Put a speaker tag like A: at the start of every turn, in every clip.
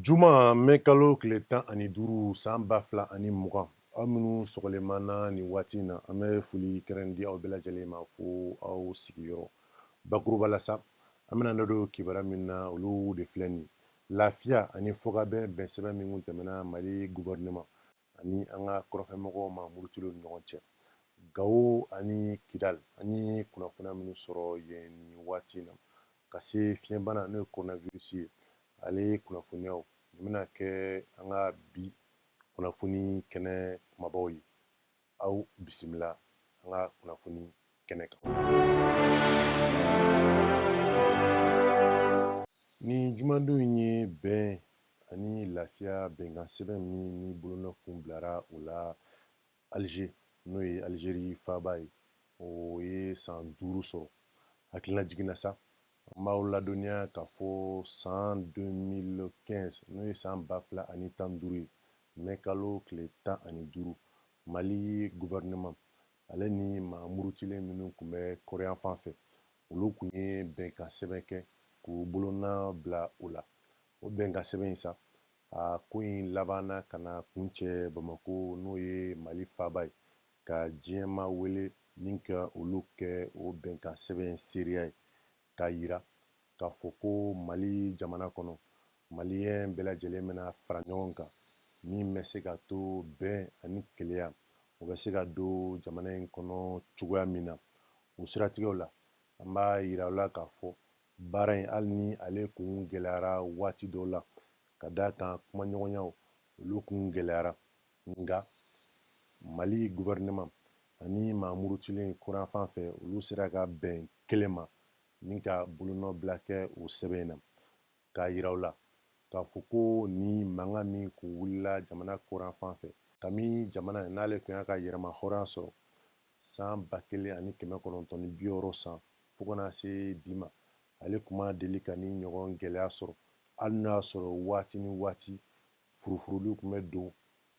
A: Juma mɛ kalo tile tan ani duuru san ba fila ani mugan aw minnu sɔgɔlen b'an na nin waati in na an bɛ foli kɛrɛn di aw bɛɛ lajɛlen ma fo aw sigiyɔrɔ bakuruba la sa an bɛna da don kibaruya min na olu de filɛ nin lafiya ani fɔkabɛn bɛnsɛbɛn min tɛmɛna Mali gouvernement ani an ka kɔrɔnfɛmɔgɔw maa murutilen ni ɲɔgɔn cɛ. Gawo ani Kidali, an ye kunnafoniya minnu sɔrɔ yen nin waati in na, ka se fiɲɛbana n'o ye coronavirus ye, ale kunnafoniyaw, nin bɛna kɛ an ka bi kunnafoni kɛnɛ kumabaw ye. Aw bisimila an ka kunnafoni kɛnɛ kan. Nin jumadon in ye bɛn ani lafiya bɛnkansɛbɛn min ni bolonɔ kun bilara o la Alize, n'o ye Alizeri faaba ye, o ye san duuru sɔrɔ. Hakilinajigin na sa, an b'aw ladɔnniya k'a fɔ san 2015, n'o ye san ba fila ani tan ni duuru ye, mɛ kalo tile tan ani duuru, Mali gɔfɛrɛnaman, ale ni maa murutilen minnu tun bɛ kɔrɔnyanfan fɛ, olu tun ye bɛnkansɛbɛn kɛ k'u bolonɔ bila o la. O bɛnkansɛbɛn in sa a ko in labanna ka na kuncɛ Bamakɔ n'o ye Mali faaba ye ka diɲɛmaa wele ni ka olu kɛ o bɛnkan sɛbɛn seereya ye k'a jira k'a fɔ ko mali jamana kɔnɔ maliyɛn bɛɛ lajɛlen bɛna fara ɲɔgɔn kan min bɛ se ka to bɛn ani kelenya o bɛ se ka don jamana in kɔnɔ cogoya min na o siratigɛ la an b'a jira aw la k'a fɔ Baara in hali ni ale kun gɛlɛyara waati dɔw la, ka d'a kan kumaɲɔgɔnyaw olu kun gɛlɛyara, nka Mali gouvernement ani maa murutilen kɔrɔnyanfan fɛ olu sera ka bɛn kelen ma ni ka bolonɔ bila kɛ o sɛbɛn in na, k'a jira u la k'a fɔ ko nin mankan min kun wulila jamana kɔrɔnyanfan fɛ, kabini jamana in n'ale tun y'a ka yɛrɛmahɔrɔnya sɔrɔ, San ba kelen ani kɛmɛ kɔnɔntɔn ni bi wɔɔrɔ san fo ka na se bi ma, ale tun ma deli ka nin ɲɔgɔn gɛlɛya sɔrɔ, hali n'o y'a sɔrɔ waati ni waati furufuruliw tun bɛ don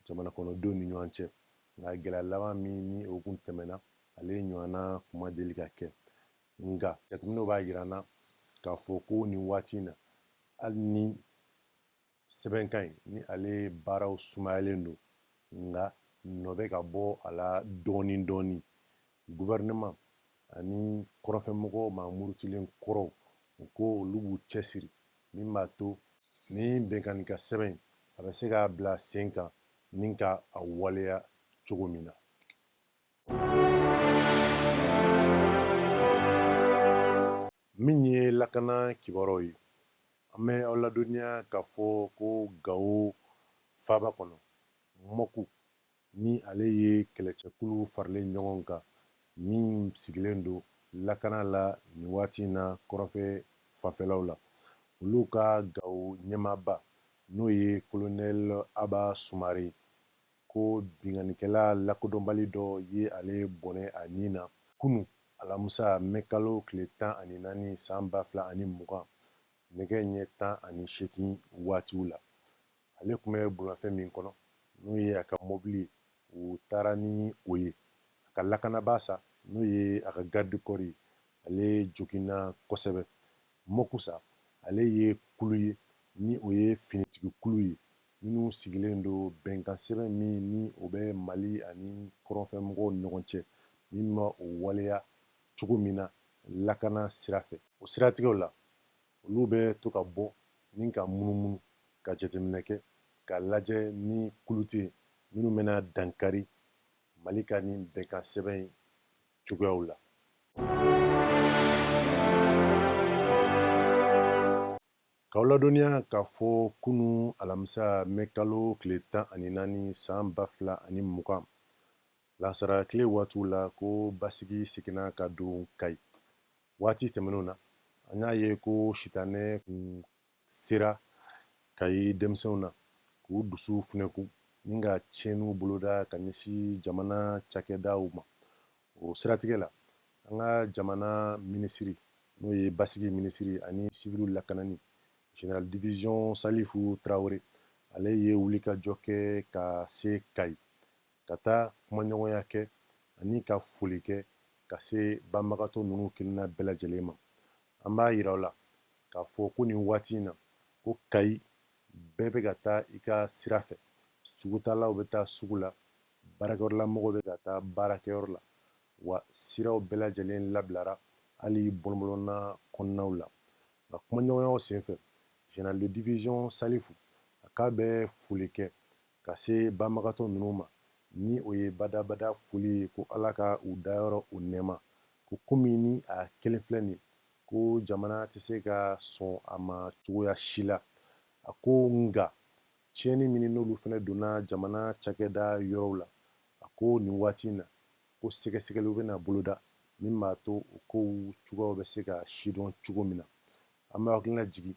A: jamanakɔnɔdenw ni ɲɔgɔn cɛ, nka gɛlɛya laban min ni o tun tɛmɛna, ale ɲɔgɔnna tun ma deli ka kɛ. Nka, jateminɛw b'a jira an na k'a fɔ ko nin waati in na, hali ni. Sɛbɛnkan in ni ale baaraw sumayalen don nka nɔ bɛ ka bɔ a la dɔɔnin dɔɔnin. Gouvernement ani kɔrɔnfɛmɔgɔ maa murutilen kɔrɔw, u ko olu b'u cɛsiri min b'a to, nin bɛnkan in ka sɛbɛn in a bɛ se ka bila sen kan ni ka a waleya cogo min na. Min ye lakana kibaruyaw ye, an bɛ aw ladɔnniya k'a fɔ ko Gao faaba kɔnɔ, Mɔku, ni ale ye kɛlɛcɛkulu faralen ɲɔgɔn kan min sigilen don lakana la nin waati in na kɔrɔnfɛ fanfɛlaw la, olu ka Gao ɲɛmaaba, n'o ye Kolonɛli Aba Sumare ko binkannikɛla lakodɔnbali dɔ ye ale bɔnɛ a ni na kunun, alamisa, mɛkalo tile tan ani naani san ba fila ani mugan nɛgɛ ɲɛ tan ani seegin waatiw la. Ale tun bɛ bolimafɛn min kɔnɔ, n'o ye a ka mɔbili ye, u taara ni o ye. A ka lakanabaa sa, n'o ye a ka garde corps ye, ale joginna kosɛbɛ. Mɔku sa, ale ye kulu ye, ni o ye finitigi kulu ye, minnu sigilen don bɛnkansɛbɛn min ni o bɛ Mali ani kɔrɔnfɛmɔgɔw ni ɲɔgɔn cɛ, min bɛ o waleya cogo min na lakana sira fɛ. O siratigɛw la, olu bɛ to ka bɔ ni ka munumunu, ka jateminɛ kɛ, k'a lajɛ ni kulu tɛ yen minnu bɛna dankari Mali ka nin bɛnkansɛbɛn in cogoyaw la. K'aw ladɔnniya k'a fɔ kunun alamisa mɛ kalo tile tan ani naani san ba fila ani mugan lansara tile waatiw la ko basigi seginna ka don Kayi. Waati tɛmɛnenw na, an y'a ye ko sitanɛ kun sera Kayi denmisɛnw na k'u dusu funɛkun ni ka tiɲɛniw boloda ka ɲɛsin jamana cakɛdaw ma, o siratigɛ la an ka jamana minisiri n'o ye basigi minisiri ani siviliw lakanani general division salifu tarawele ale ye wulikajɔ kɛ ka se kayi ka taa kumaɲɔgɔnya kɛ ani ka foli kɛ ka se banbagatɔ ninnu kelenna bɛɛ lajɛlen ma an b'a yira aw la k'a fɔ ko nin waati in na ko kayi bɛɛ bɛ ka taa i ka sira fɛ sugutalaw bɛ taa sugu la Baarakɛyɔrɔla mɔgɔw bɛ ka taa baarakɛyɔrɔ la, wa siraw bɛɛ lajɛlen labilara, hali bɔlɔnbɔlɔnna kɔnɔnaw la. Nka kumaɲɔgɔnyaw senfɛ, General de division Salifu, a k'a bɛ foli kɛ ka se banbagatɔ ninnu ma, ni o ye badabada foli ye ko Ala ka u dayɔrɔ u nɛɛma, ko komi ni a kɛlen filɛ nin ko jamana tɛ se ka sɔn a ma cogoya si la, a ko nka Tiɲɛni min n'olu fana donna jamana cakɛda yɔrɔw la, a ko nin waati in na, ko sɛgɛsɛgɛliw bɛna boloda min b'a to o kow cogoyaw bɛ se ka sidɔn cogo min na. An bɛ hakilina jigin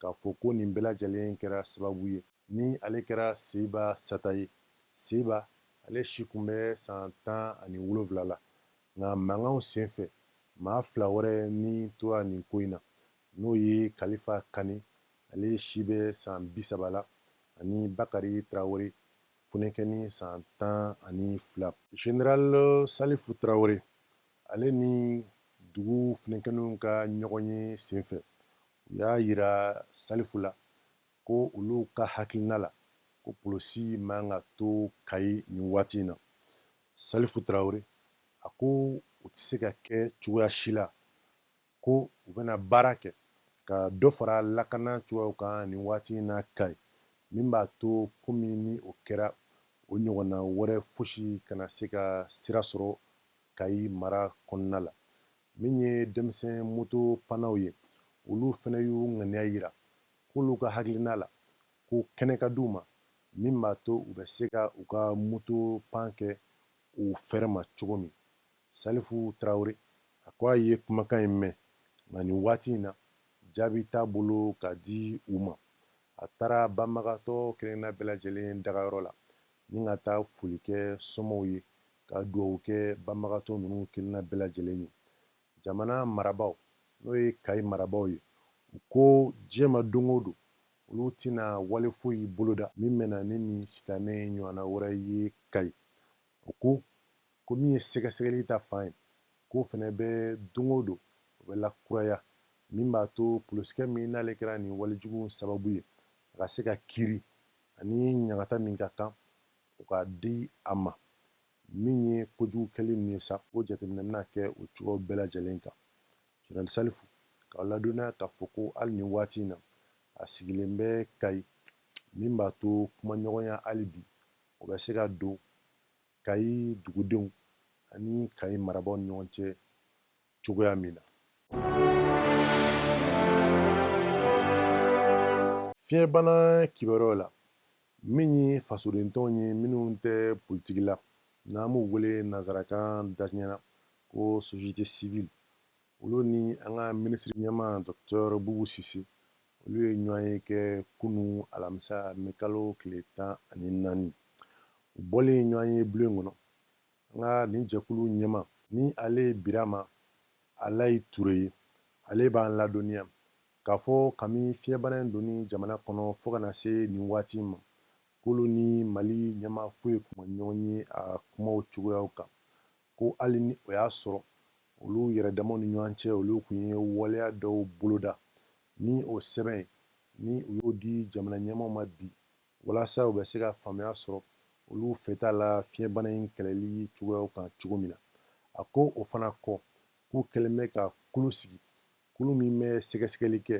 A: k'a fɔ ko nin bɛɛ lajɛlen kɛra sababu ye, ni ale kɛra Seyiba sata ye. Seyiba, ale si tun bɛ san tan ani wolonwula la, nka mankanw sen fɛ, maa fila wɛrɛ ni tora nin ko in na, n'o ye Kalifa Kani Ale si bɛ san bi saba la ani Bakari Tarawele funɛnkɛni san tan ani fila. General Salifu Tarawele ale ni dugu funɛnkɛninw ka ɲɔgɔnye senfɛ, u y'a jira Salifu la ko olu ka hakilina la, ko polosi man ka to Kayi nin waati in na. Salifu Tarawele, a ko o tɛ se ka kɛ cogoya si la ko u bɛna baara kɛ ka dɔ fara lakana cogoyaw kan nin waati in na Kayi min b'a to komi ni o kɛra o ɲɔgɔnna wɛrɛ fosi kana se ka sira sɔrɔ Kayi mara kɔnɔna la min ye denmisɛn moto pannaw ye olu fana y'u ŋaniya jira k'olu ka hakilina la ko kɛnɛ ka di u ma min b'a to u bɛ se ka u ka moto pan kɛ u fɛrɛ ma cogo min Salifu Tarawele, a ko a ye kumakan in mɛn, nka nin waati in na, jaabi t'a bolo ka di u ma. A taara banbagatɔ kelenna bɛɛ lajɛlen dagayɔrɔ la ni ka taa foli kɛ somɔw ye, ka dugawu kɛ banbagatɔ ninnu kelenna bɛɛ lajɛlen ye. Jamana marabaaw, n'o ye Kayi marabaaw ye, u ko diɲɛ ma don o don, olu tɛna wale foyi boloda min bɛ na ni nin sitanɛ ɲɔgɔnna wɛrɛ ye Kayi. U ko, ko min ye sɛgɛsɛgɛli ta fan ye k'o fana bɛ don o don o bɛ lakuraya min b'a to polosikɛ min n'ale kɛra nin walejugu sababu ye a ka se ka kiiri ani ɲangata min ka kan o ka di a ma min ye kojugu kɛli ninnu ye sa o jateminɛ bɛna kɛ o cogoyaw bɛɛ lajɛlen kan General Salifu k'aw ladɔnniya k'a fɔ ko hali nin waati in na a sigilen bɛ Kayi min b'a to kumaɲɔgɔnya hali bi o bɛ se ka don Kayi dugudenw ani Kayi marabaaw ni ɲɔgɔn cɛ cogoya min na. Fiɲɛbana kibaruyaw la, min ye fasodentɔnw ye minnu tɛ politiki la, n'an b'u wele nanzarakan daɲɛ na ko société civile Olu ni an ka minisiri ɲɛma Docteur Bubu Sise, olu ye ɲɔgɔn ye kɛ kunun alamisa mɛkalo tile tan ani naani. U bɔlen ɲɔgɔn ye blon in kɔnɔ, an ka nin jɛkulu ɲɛma, ni ale ye Birama Alayi Ture ye, ale b'an ladɔnniya k'a fɔ kami fiɲɛbana in donni jamana kɔnɔ fo ka na se nin waati in ma, k'olu ni Mali ɲɛma foyi tun ma ɲɔgɔn ye a kumaw cogoyaw kan. Ko hali ni o y'a sɔrɔ olu yɛrɛdamaw ni ɲɔan cɛ olu tun ye waleya dɔw boloda ni o sɛbɛn, ni u y'o di jamanaɲɛmaaw ma bi walasa u bɛ se ka faamuya sɔrɔ olu fɛta la fiɲɛbana in kɛlɛli cogoyaw kan cogo min na. A ko o fana kɔ, k'u kɛlen bɛ ka kulu sigi, kulu min bɛ sɛgɛsɛgɛli kɛ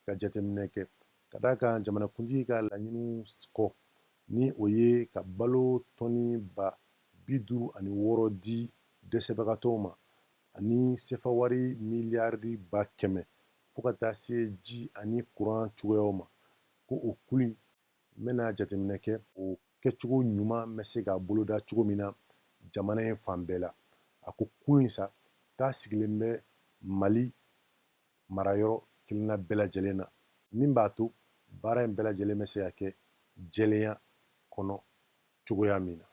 A: ka jateminɛ kɛ, ka d'a kan jamanakuntigi ka laɲiniw kɔ, ni o ye ka balo tɔni ba bi duuru ani wɔɔrɔ di dɛsɛbagatɔw ma ani sɛfawari miliyari ba kɛmɛ fo ka taa se ji ani kuran cogoyaw ma, ko o kulu in bɛna jateminɛ kɛ, o kɛcogo ɲuman bɛ se ka boloda cogo min na jamana in fan bɛɛ la. A ko kulu in sa, k'a sigilen bɛ Mali marayɔrɔ kelenna bɛɛ lajɛlen na, min b'a to baara in bɛɛ lajɛlen bɛ se ka kɛ jɛlenya kɔnɔ cogoya min na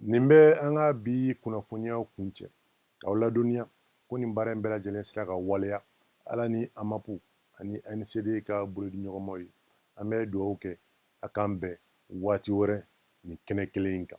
A: nin bɛ an ka bi kunnafoniyaw kuncɛ k'aw ladɔnniya ko nin baara in bɛɛ lajɛlen sera ka waleya ala ni AMAP ani ANCD ka bolodiɲɔgɔnmaw ye an bɛ dugawu kɛ a k'an bɛn waati wɛrɛ nin kɛnɛ kelen in kan